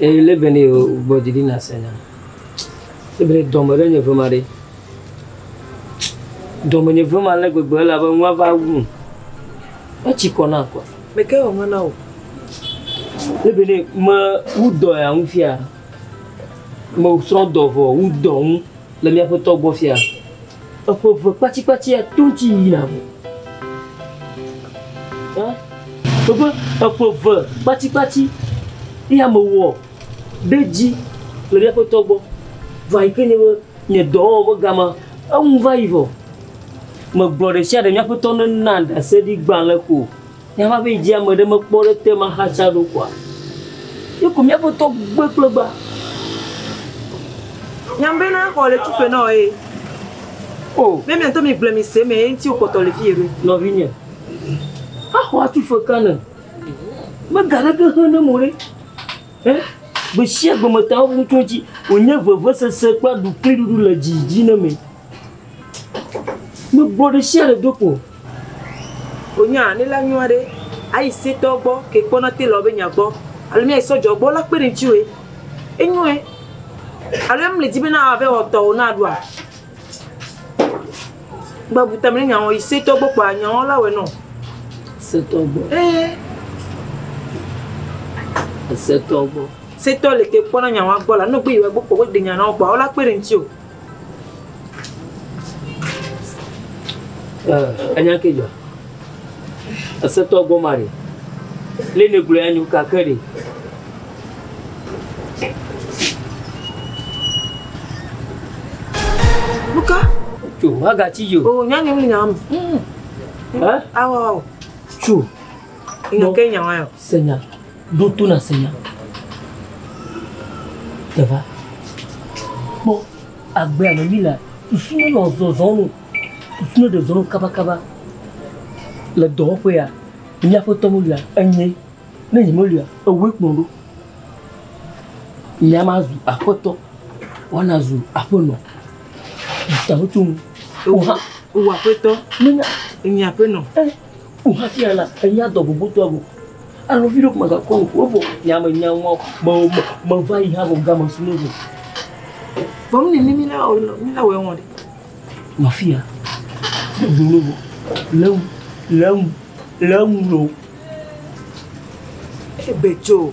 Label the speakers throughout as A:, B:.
A: Eye
B: lé be ne yewo gbɔ didi na se na. Lé be ne dɔme ɖe nye ve ma ɖe. Dɔme nye ve ma le gbegbe ele abe nua va wum. Etsi kɔ na kɔa. Me ke wɔ na wò. Lé be ne me wu dɔ ya ŋu fia. Me srɔ dɔ vɔ wu dɔ ŋu le mia ƒetɔ gbɔ fia. Eƒe eve kpatsikpatsia to ŋuti yina me. Ẽ? Woƒe eƒe eve kpatsikpatsi ye ame wɔ ɖe dzi le míaƒe tɔ gbɔ va yi ke nye be nye dɔwɔwɔ ƒe gama eŋu va yi vɔ. Megblɔ ɖe sia ɖe míaƒe tɔ nena ɖaseɖigbalẽ ko. Ne eva be dzi ame ɖe mekpɔ ɖe te ma xatsa ɖo kɔa, ye ko mía ƒetɔ gbe kple gba.
A: Nyam be na xɔ le tu fe nɔ ye. O. Oh. Be miantɔ mi gble mi se me ye ŋuti wokpɔtɔ le fi ye ɖo. Nɔvinye.
B: Axɔ atu fe ka ne. Me ga ɖe ke he ne mo ɖe. Eh? Be sia gbe me ta wo ŋutɔ dzi. Wonye veve sese kple ɖukli ɖuɖu le dzi dzi ne me. Me gblɔ ɖe shia ɖe ɖo kpo.
A: O nya ne la nyɔa ɖe, a yi se tɔ gbɔ ke kpɔ na te lɔ be nya gbɔ. Alo mia yi sɔ jɔ gbɔ la kpe ɖe ŋtsi woe. E nyɔe. Alo e mle dzi be na wa be wɔ tɔ wo na ɖoa. Gba bu tame ne nya wɔ yi se tɔ gbɔ kpo a nya wɔ la wɔ nɔ. Se
B: tɔ gbɔ. E.
A: Se tɔ gbɔ. Se tɔ le ke kpɔ na nya wɔ gbɔ la. Nɔ gbe yi wɔ gbɔ kpo we gbe nya na wɔ kpo a wo la kpe ɖe ŋtsi o.
B: Enya ke dzɔ. Esetɔ gɔma ɖe. Lé ne gblɔ ya nyo kake ɖe.
A: Luka. Tso, haga
B: ti yo. O nya nyem nya am. Hã? Awo awo.
A: Tso.
B: Ino
A: ke nya wa yo. Senya. Ɖo
B: to nàse nya te va. Kpɔ agbea me mí lea, susu me nɔ zɔzɔm o, susu me ɖe zɔzɔm kabakaba. Le dɔwɔƒea, míaƒe tɔ melia, enyee. Ne nye melia, ewòe kplɔm ɖo. Nya ma zu aƒetɔ, woana zu aƒenɔ. Taɖodzinu, ewò hã.
A: Ewò aƒetɔ, nye aƒenɔ. Ku hafi
B: ana enya dɔ gbogbotoa go. Alo viɖe kuma ga kɔnu ko vɔ nya me nya ŋɔ me me me va yi ha go game su ne go.
A: Vɔ mi ni mi la o mi la wɛ ŋɔ de. Ma fi ya.
B: Ne go ne go. Lem lem lem lo.
A: Ebe jo.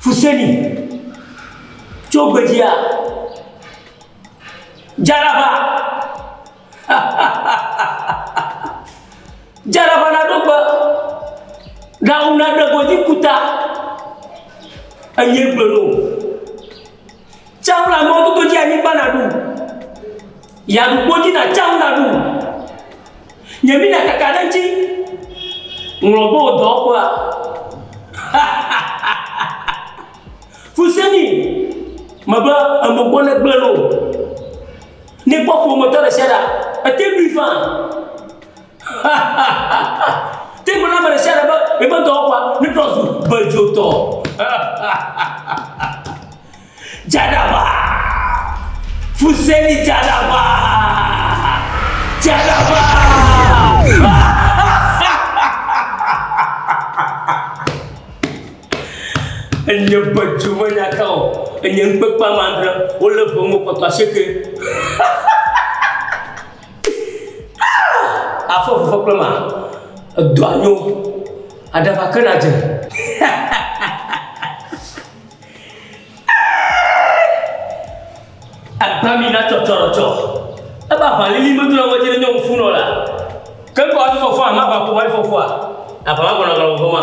B: Fuseni, tso gbedzia, Jaraba, Jaraba na ɖo gbe, na ŋu na ɖe godzi ku ta, eye gblɔ no. Tsaʋu le amewo dodo dzi anyigba naɖu. Yi aɖukpo dzi na tsaʋu naɖu. Nye mi nakaka ɖe ŋtsi ŋlɔ be wò dɔwɔƒea. Fu se ni me be enu gbɔ ne gblẽ ɖo. Ne kpɔ ƒometɔ ɖe sia ɖe ate ŋui faa. Te ŋu na ame ɖe sia ɖe be yeƒe dɔwɔƒea netrɔ zu bedzotɔ. Dzadagba! Fuseli dzadagba! Dzadagba! Enye bedzo menya ka o. Enye ŋukpekpe ame adre. Wolé ʋe ŋu wokpɔtɔ asieke. Afɔ vifɔ kple ma, edɔ anyo, aɖaba ke na dze. Agba mi na tsɔtsɔrɔtsɔ. Ebe aʋalili medo na ŋɔdzi ne nyɔ ŋufunɔ la. Ke ŋkɔ hafi fɔfɔa, ma va ƒo hafi fɔfɔa, aʋa ma gbɔna gɔnɔ vɔvɔ ma.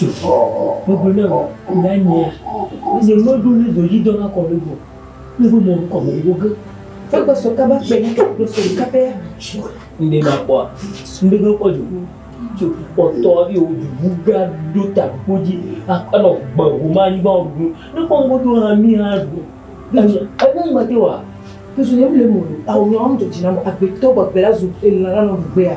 B: Gbogbo ne o na nye Eze mo do ne do yi do na ko le go Ne bo mo ko mo go ge Fe ko so ka ba pe ni do so ka pe ya Nde ma ko Nde go ko ju Ju ko to bi o ju bu ga do ta ko ji A ko no gbe o ma ni ba o du Ne ko ngo do ha mi ha du Na je E ne ma te wa Ke so ne mi le mo A o nyo am to jina mo A be to ba be la zu E la la no be ya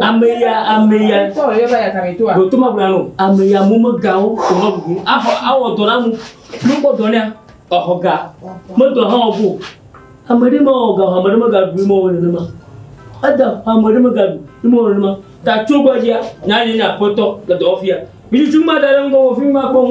B: Ameya ameya
A: dotoma bla no
B: ameya mumegãwo tɔnɔ bubu afɔ awɔ dɔ na mu nukpɔ dɔ nea ɔxɔ ga medɔ hã ɔbo ame ɖe ma ɔga ame ɖe mega du ma ɔne ma eda ame ɖe mega du ma ɔne ma ta tso gbɔdzi ya nya nye nya kpɔtɔ le dɔwɔfia mi tsi ma da ɖe ŋgɔ wɔ fi ma kpɔm.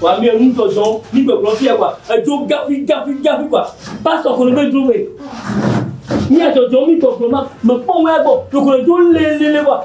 B: wa mi enu tɔ zɔn mi gbegblɔ fia wa edzo gafi gafi gafi wa pastɔ ko ne bɛ dro wɛ mi adzɔdzɔ mi gbɔgblɔ ma mɛ kpɔ wɛ gbɔ dokoro dzo lelele wa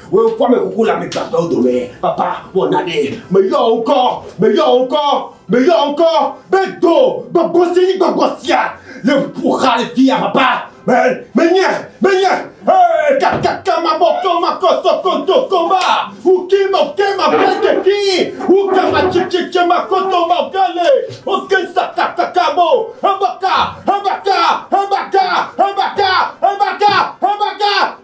C: Wò ŋkɔ me kuku le ame gbãtɔwo dome. Papa, wɔ nane. Meyɔ wò ŋkɔ, meyɔ wò ŋkɔ, meyɔ wò ŋkɔ be do gbɔgbɔ si nyi gbɔgbɔ sia le ƒo xa le fia, papa. Me, menye, menye. Ee, kakaka mabɔ kɔ makɔ sɔkɔ do kɔ ma. Wuki mɔke mabɔ keki. Wuka matsitsitsi makoto mɔke le. Oke saka kaka mo. Hebaka, hebaka, hebaka, hebaka, hebaka, hebaka.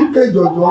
B: Ike jɔjɔ.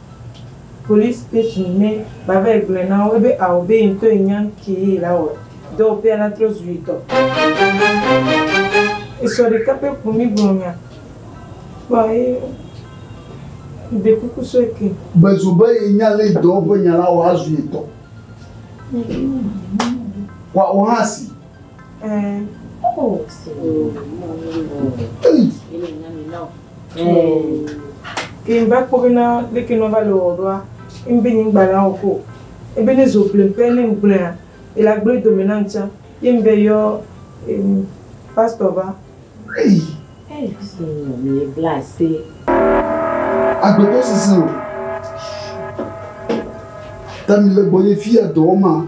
A: Police station mɛ bavɛ gblɔɛ na wo be ao be yentɔ yi nyan kee la wɔ dɔ o pea la trɔ zu yitɔ. Esɔ ɖeka pɛ ko mi gblɔ nya kpɔ ye ɖe kuku sɔ eke. Gbe zo be ye nya
D: le yi dɔ ƒe nya la wɔ azu yetɔ. Kɔa wo hã si.
A: Ke va kpɔ bena leke nɔ va le wɔ ɖoa, ŋbe nye ŋgba la wɔ ko. Ebe ne zo gblɔe pɛ ne ŋgblɔea, ele agblɔe dome nam tsã. Ye ŋbe yɔ pastor va.
D: Agbetɔ sese o. Tami le gbɔnye fiya dɔwɔma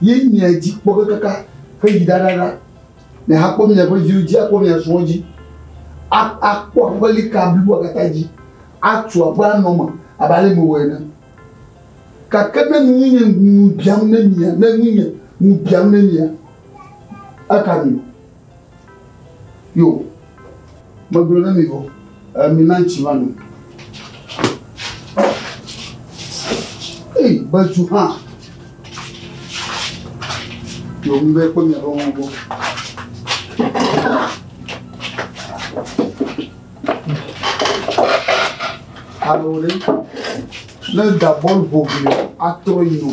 D: Ye mia dzi kpɔ kekaka heyi ɖaɖaɖa. Miahakpɔ miaƒe viwo dzi, akpɔ mia srɔ̃wo dzi, a, akpɔ aƒelika bliboa katã dzi, atu aƒe anɔ eme abe ale mewɔ ene. Gake ne ŋu nye ŋu biam ne mia, ne ŋu nye ŋu biam ne mia, eka mi o. Yo, megblɔ na mi vɔ, mina ŋutsi va nu. Ei, bedu hã. Yo, mi be kpɔ miaƒe mɔ gbɔ. Alo ɖe, ne da bɔl ƒo vi atrɔ yi o.